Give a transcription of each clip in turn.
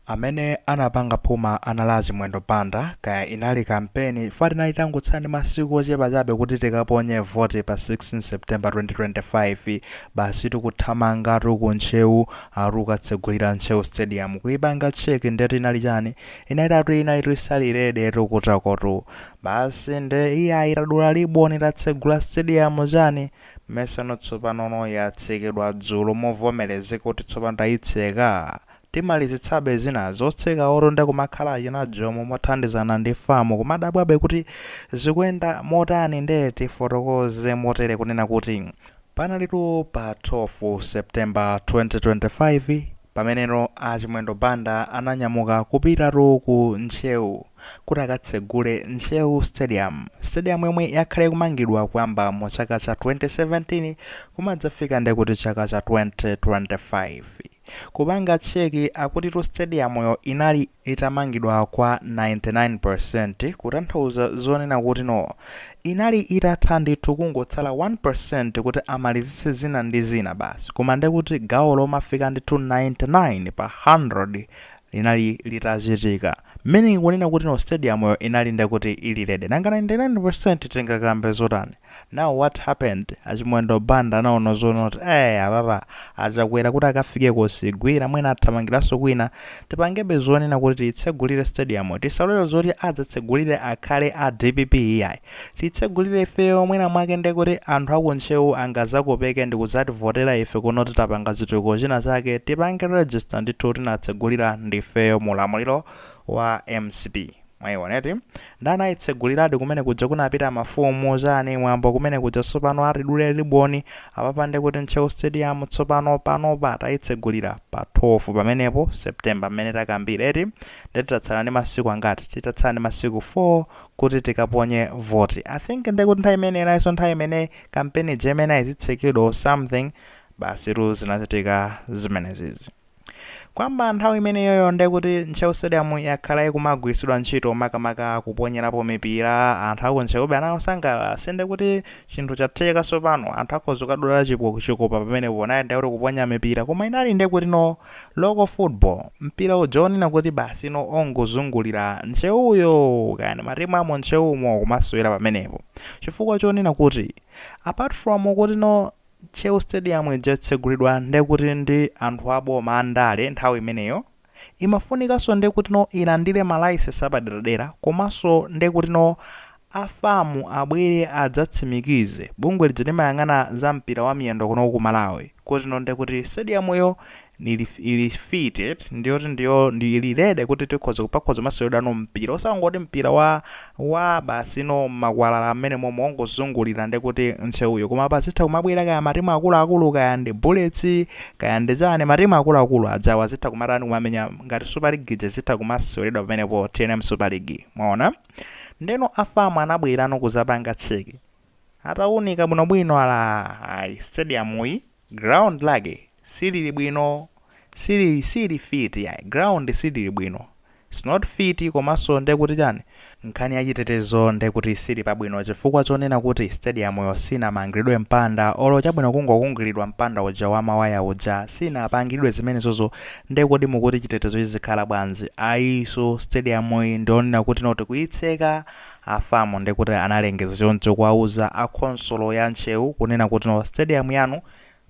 Amene anapanga phuma anali a Chimwendo Banda, kaya inali kampeni chifukwa tinali tangotsala ndi masiku ochepa chabe kuti tikaponye voti pa 16 September 2025, basitu kuthamangatu ku Ntcheu akuti kukatsegulira Ntcheu Stadium, kuipanga check ndetu inali chani? Inaitatu inalitu isali ready tu kutakoku. Basi nde iyayi tadula liboni tatsegula stadium chani? Mmesano tsopanono yatsekedwa dzulo movomerezeka kuti tsopano tayitseka timalizitsebe zina. Otsekawotu nde kumakhala achina Jomo mothandizana ndi fam kumadabwabe kuti zikuyenda motani nde tifotokoze motere kunena kuti panalitu pa 12 September 2025, Pameneno a Chimwendo Banda ananyamuka kupitatu ku Ntcheu kuti akatsegule Ntcheu Stadium. Stadium yomwe yakhala ikumangidwa kuyamba mu chaka cha 2017 kumadzafika nde kuti chaka cha 2025. Kupanga check akutitu stadium yo inali itamangidwa kwa 99% kutanthauza zonena kuti no inali itatha ndithu kungotsala 1% kuti amalizitse zina ndi zina basi koma nde kuti gawo lofika ndithu 99 pa 100 linali litachitika meaning kunena kuti no stadium yo inali nde kuti ili ready nanga 99% tingakambe zotani? Now what happened achimwendo banda anaona zonena kuti ee apapa achakwera kuti akafike kosigwira mwina athamangiranso kwina tipangebe zonena kuti tiyitsegulire stadium tisalole zoti adzatsegulire akhale a dpp iyayi tiyitsegulire ifeyo mwina mwake ndekuti anthu aku ntcheu angazakopeke ndikudzativotera ife kunoti tapanga chitukuko china chake tipange register ndithu tinatsegulira ndifeyo mu ulamuliro wa mcp Mwaiona eti? Nde anayitseguliradi kumene kuja kunapita mafumu, chani, mwambo kumene kuja tsopano akuti dule riboni apapa nde kuti Ntcheu Stadium tsopano panopa tayitsegulira pa 12 pamenepo September mmene takambira eti nde titatsala ndi masiku angati titatsala ndi masiku 4 kuti tikaponye voti I think nde kuti nthawi imene inalinso nthawi imene kampeni ija imeneyi izitsekedwa or something basitu zinachitika zimenezizi. Kwamba nthawi imeneyoyo nde kuti Ntcheu Stadium yakhala ikumagwiritsidwa ntchito makamaka kuponyerapo mipira, anthu aku Ntcheu anali osangalala, si nde kuti chinthu chatheka tsopano, anthu akhoza kukadula chipo, chikopa pamenepo, naye nde kuti kuponya mipira, koma inali nde kuti no local football, mpira uja wonena kuti basi no ongozungulira Ntcheuyo, kaya ndi matimu amu Ntcheumo kumasewera pamenepo, chifukwa chonena kuti apart from kuti no. Ntcheu stadium ija yatsegulidwa ndekuti ndi anthu aboma andale nthawi imeneyo imafunikanso ndekutino ilandire ma license apaderadera komanso ndekutino a fam abwere adzatsimikize bungwe lija limayang'ana za mpira wa miyendo kuno ku Malawi kutino ndekuti stadium yo Ili ili fitted ndiyoti ndiyo ili ready kuti tikhoza pakhoza kumaseweredwa no mpira osangoti mpira wa wa basi no makwalala amene momwe ongozungulira ndi kuti nsewuyo koma pazitha kumabwera kaya matimu akuluakulu kaya ndi Bullets kaya ndi chani matimu akuluakulu ajawa zitha kumatani kumamenya ngati Super League ija zitha kumaseweredwa pamenepo TNM Super League mwaona ndeno a FAM anabwerano kuzapanga cheki ataunika bwinobwino ala ayi stadium iyi Ground lake silili bwino, sili siili fit yayi, ground silili bwino, it's not fit komanso nde kuti chani, nkhani ya chitetezo nde kuti sili pabwino chifukwa chonena kuti stadium yo sinamangilidwe mpanda olo chabwino kungokungilidwa mpanda uja wa mawaya uja sinapangidwe zimenezozo nde kuti mukuti chitetezo chizikhala bwanzi, ayi so stadium iyi ndiyonena kuti not kuyitseka A FAM ndekuti analengeza choncho kuwauza a khonsolo ya Ntcheu kunena kuti no stadium yanu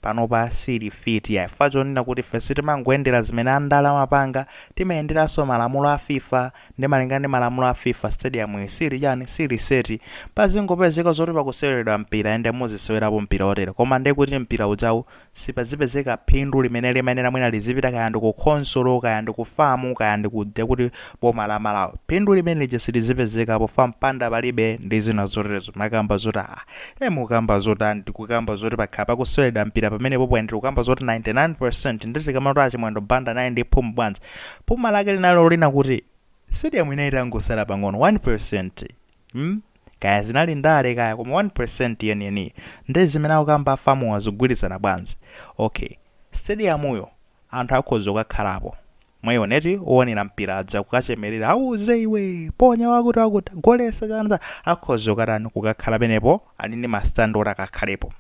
panopa siili fit yayi chifukwa chonena kuti ife sitimangoyendera zimene andale amapanga timayenderanso malamulo a FIFA nde malingana ndi malamulo a FIFA stadium iyi siili chani siili set pazingopezeka zoti pakuseweredwa mpira ende muzisewerapo mpira otere koma ndekuti mpira ujawu sipazipezeka phindu limene limayenera mwina lizipita kaya ndi ku khonsolo kaya ndi ku FAM kaya ndi ku ndekuti boma la Malawi phindu limenelija silizipezeka pofa mpanda palibe ndi zina zoterezo mukukamba zoti a e mukamba zotani tikukamba zoti pakhala pakuseweredwa mpira pamenepopo ndikukamba zoti 99% nde tikamati a Chimwendo Banda naye ndi phuma bwanji phuma lake linalo lina kuti stadium ina itangosala pang'ono 1% mm kaya zinali ndale kaya koma 1% yeniyeniyi ndi zimene akukamba a FAMuwa zikugwilizana bwanzi? Ok stadium'yo anthu akhoza kukakhalapo mwaiona eti owonera mpira aja kukachemerera auze iwe ponya wakuti wakuti golesa chani chani akhoza kukatani kukakhala pamenepo ali ndi ma stand oti akakhalepo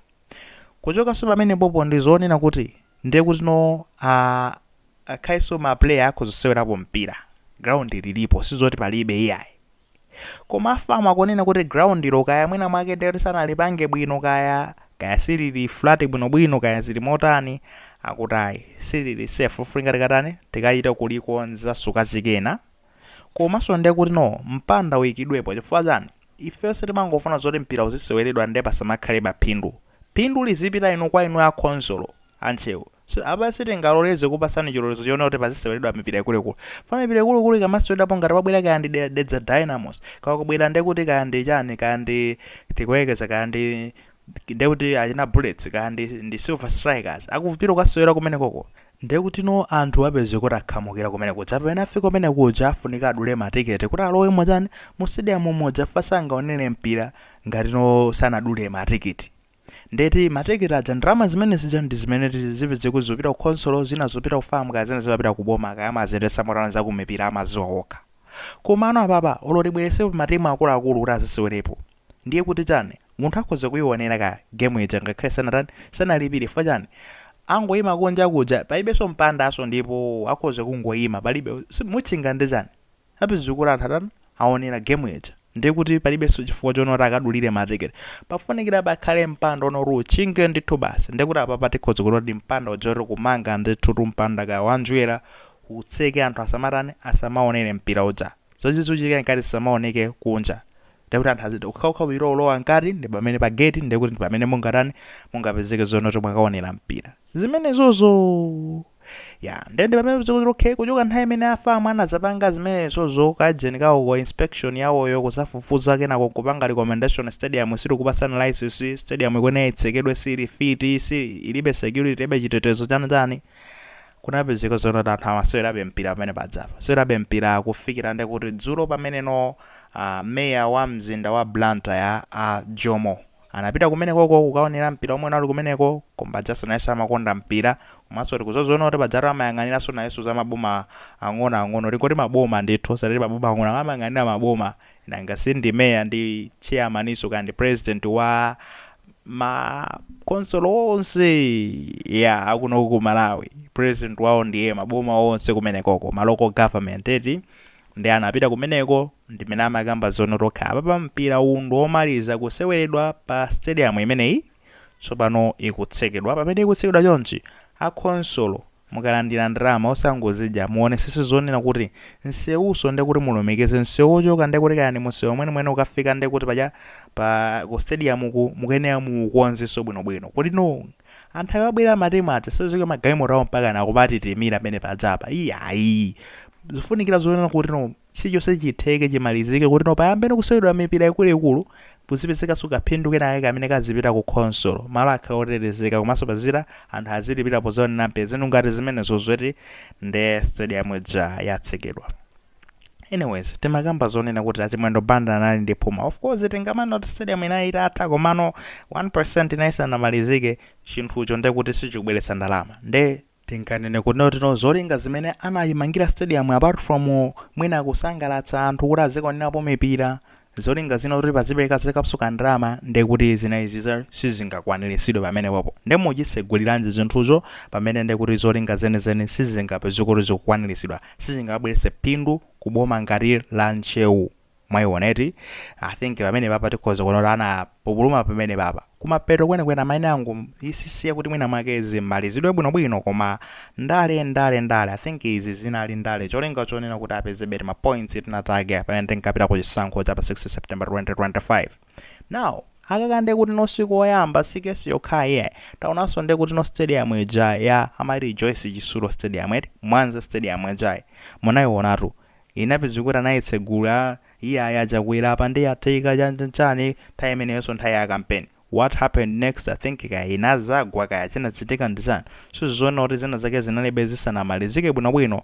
kuchokanso pamenepopo ndi zonena kuti ndiye kuti no a angakhalenso ma player akhoza kusewerapo mpira ground lilipo sizoti palibe iyayi. Koma a FAM akunena kuti ground lo kaya mwina mwake ndiye kuti sanalipange bwino kaya, kaya silili flat bwinobwino kaya zili motani, akuti ayi silili safe kufunika tikatani, tikachite kulikonzanso kachikenanso. Komanso ndiye kuti no mpanda uikidwepo chifukwa chani? Ife sitimangofuna zoti mpira uziseweredwa ndiye pasamakhale phindu. Phindu lizipita inu kwa inu a khonsolo, a Ntcheu. So apa sitingaloleze kupasani chilolezo chonena kuti paziseweredwa mipira ikuluikulu. Chifukwa mipira ikuluikulu ikamaseweredwapo ngati kwabwera kaya ndi De Dedza Dynamos, kaya kwabwera ndekuti kaya ndi chani, kaya ndi Tikuyerekeza kaya ndi ndekuti achina Bullets kaya ndi ndi Silver Strikers akupita kukasewera kumenekoko Ndekutino anthu apeze kuti akhamukira kumene kuja pamene afika kumene kuja afunika adule ma ticket kuti alowe muchani mu stadium muja chifukwa sangaonere mpira ngatino sanadule ma ticket ndeti ma ticket aja ndalama zimene zija ndi zimene zipezeke kuti zikupita ku khonsolo zina zikupita ku fam kaya zina zimapita ku boma kaya amaziyendetsa motani zakumipira amaziwa okha komano apapa olo tibweretsepo ma team akuluakulu kuti azisewerepo Ndiye kuti chani? Munthu akhoza kuionera ka game ija ngakhale sanatani, sanalipire chifukwa chani? Angoima kunja kuja, palibenso mpandanso ndipo akhoza kungoima, palibe, si, mutchinga ndi chani? Apezeke kuti anthu atani, aonera game ija. Ndiye kuti palibenso chifukwa chona kuti akadulire ma ticket. Pafunikira pakhale mpanda ona kuti utchinge ndithu basi. Ndiye kuti apapa tikhoza kunena kuti mpanda uja oti kumanga ndithutu mpanda kaya wa njerwa, utseke anthu asamatani, asamaonere mpira uja. Zomwe zichitike mkati zisamaoneke kunja. ndiye kuti anthu azitha kukhamukira kupita kulowa mkati ndi pamene pa gate ndiye kuti ndi pamene mungatani mungapezeke zonena kuti mwakaonera mpira zimenezozo ya ndiye ndi pamene pezeka kuti okay kuchoka nthawi imene a FAM anazapanga zimenezozo kajeni kawo ko inspection yawoyo kuzafufuza kenako kupanga recommendation stadium sitikupatsani license stadium ikuyenera itsekedwe sili fit sili ilibe security ilibe chitetezo chani chani kunapezeka zonoti anthu amasewerabe mpira pamene paja apa sewerabe mpira kufikira nde kuti dzulo pamene no uh, meya wa mzinda wa Blantyre a uh, Jomo anapita kumenekoko kukaonera mpira omwe unali kumeneko koma pajanso nayenso amakonda mpira komanso tikuzoziona kuti pajatu amayang'aniranso nayenso za maboma ang'onoang'ono tingoti maboma ndithu satati maboma ang'ono amayang'anira maboma Nanga si ndi mayor ndi chairmaninso kaya ndi president wa ma council onse ya akuno ku Malawi. President wawo ndiye maboma onse kumenekoko, ma local government eti. Ndiye anapita kumeneko ndimene amakamba zonoti okay apapa mpira uwu ndi omaliza kuseweredwa pa stadium imeneyi. Tsopano ikutsekedwa. Pamene ikutsekedwa chonchi, a khonsolo mukalandira ndalama osangozidya, muonesese zonena kuti nsewuso nde kuti mulumikize nsewu ochoka nde kuti kaya ndi munsewu mwenimweni kukafika nde kuti paja pa ku stadium ku mukuyenera muukonzeso bwinobwino. Kuti no anthu akabwera ma team aja sazasiya ma galimoto awo mpakana akumatitimira pamene paja apa iyayi. Zofunikira zonena kuti no chilichonse chitheke chimalizike kuti no payambe no kuseweredwa mipira ikuluikulu Kuzipezekanso kaphindu kenakake kamene kazipita ku khonsolo, malo akhale otetezeka komanso pazikhala anthu azilipira pozaonera mpira zinthu ngati zimenezo zoti nde stadium ija yatsekedwa. Anyways timakamba zonena kuti a Chimwendo Banda anali ndi phuma of course tingamanena kuti stadium inali itatha komano 1% inali isanamalizike chinthucho ndekuti sichikubweretsa ndalama nde Tinganene kuti no zolinga zimene anayimangira stadium yo apart from mwina kusangalatsa anthu kuti azikaonerapo mipira, zolinga zina kuti pazipeleka zikapsuka ndalama nde kuti zina izi sizingakwaniritsidwe pamenepopo nde muchitseguliranji zinthuzo pamene nde kuti zolinga zenizeni sizingapezeke kuti zikukwaniritsidwa, sizingabweretse phindu ku boma ngati la Ntcheu. Mwaiona eti? I think pamenepapa tikhoza kuona kuti anapupuluma pamenepapa. Kumapeto kwenikweni amayenera angozisiya kuti mwina mwake zimalizidwe bwinobwino koma ndale ndale ndale. I think izi zinali ndale cholinga chonena kuti apezebe tima points tina take pamene tinkapita ku chisankho cha pa 6 September 2025. Now, akaka nde kuti no sikoyamba si kesi yokhayi iyayi. Taonanso nde kuti no stadium ija ya amati Joyce Chitsulo Stadium eti? Mwanza Stadium ijayi. Munaionatu. Inapeze kuti anayitsegula, iyayi a Chakwera apa nde yatheka chan chan chani, nthawi imeneyonso nthawi ya kampeni. What happened next I think kaya inazagwa kaya chinachitika ndi chani. Mukuona kuti zina zake zinalibe zisanamalizike bwino bwino.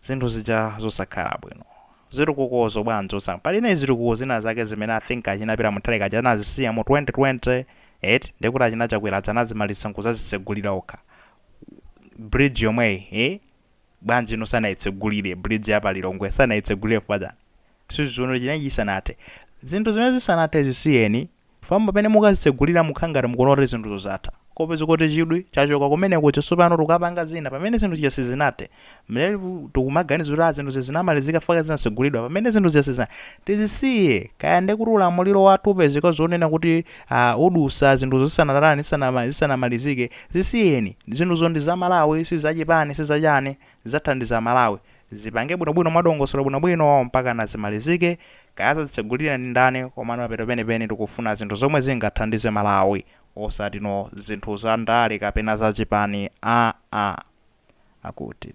Zinthu zija zosakhala bwino. Zitukukozo bwanji osang. Pali zina zitukuko zina zake zimene I think achina Peter Mutharika aja anazisiya mu 2020 eti ndekuti achina Chakwera aja anazimalitsa nkuzazitsegulira okha. Bridge yomweyi. Bwanji inu sanaitsegulire, bridge ya pa Lilongwe, sanaitsegulire chifukwa chani? Sizoona inali isanathe. Zinthu zimene zisanathe zisiyeni, chifukwa pamene mukazitsegulira mukhala ngati mukuona kuti zinthuzo zatha. Kupeza kuti chidwi chachoka kumene kuja tsopano tikukapanga zina pamene zinthu zija sizinathe. Ndiye tikumaganiza kuti ah zinthuzi zinamalizika chifukwa chake zinatsegulidwa pamene zinthu zija sizinathe. Tizisiye! Kaya ndekuti ulamuliro wathu upezeka zonena kuti a udutsa zinthuzo zisanatani zisanama zisanamalizike zisiyeni zinthuzo ndi za malawi si za chipani si za chani zidzathandiza malawi zipange bwinobwino mwa dongosolo bwinobwino mpakana zimalizike kaya azazitsegulire ndi ndani komano pamapeto penipeni tikufuna zinthu zomwe zingathandize malawi osati no zinthu za ndale kapena za chipani aa akuti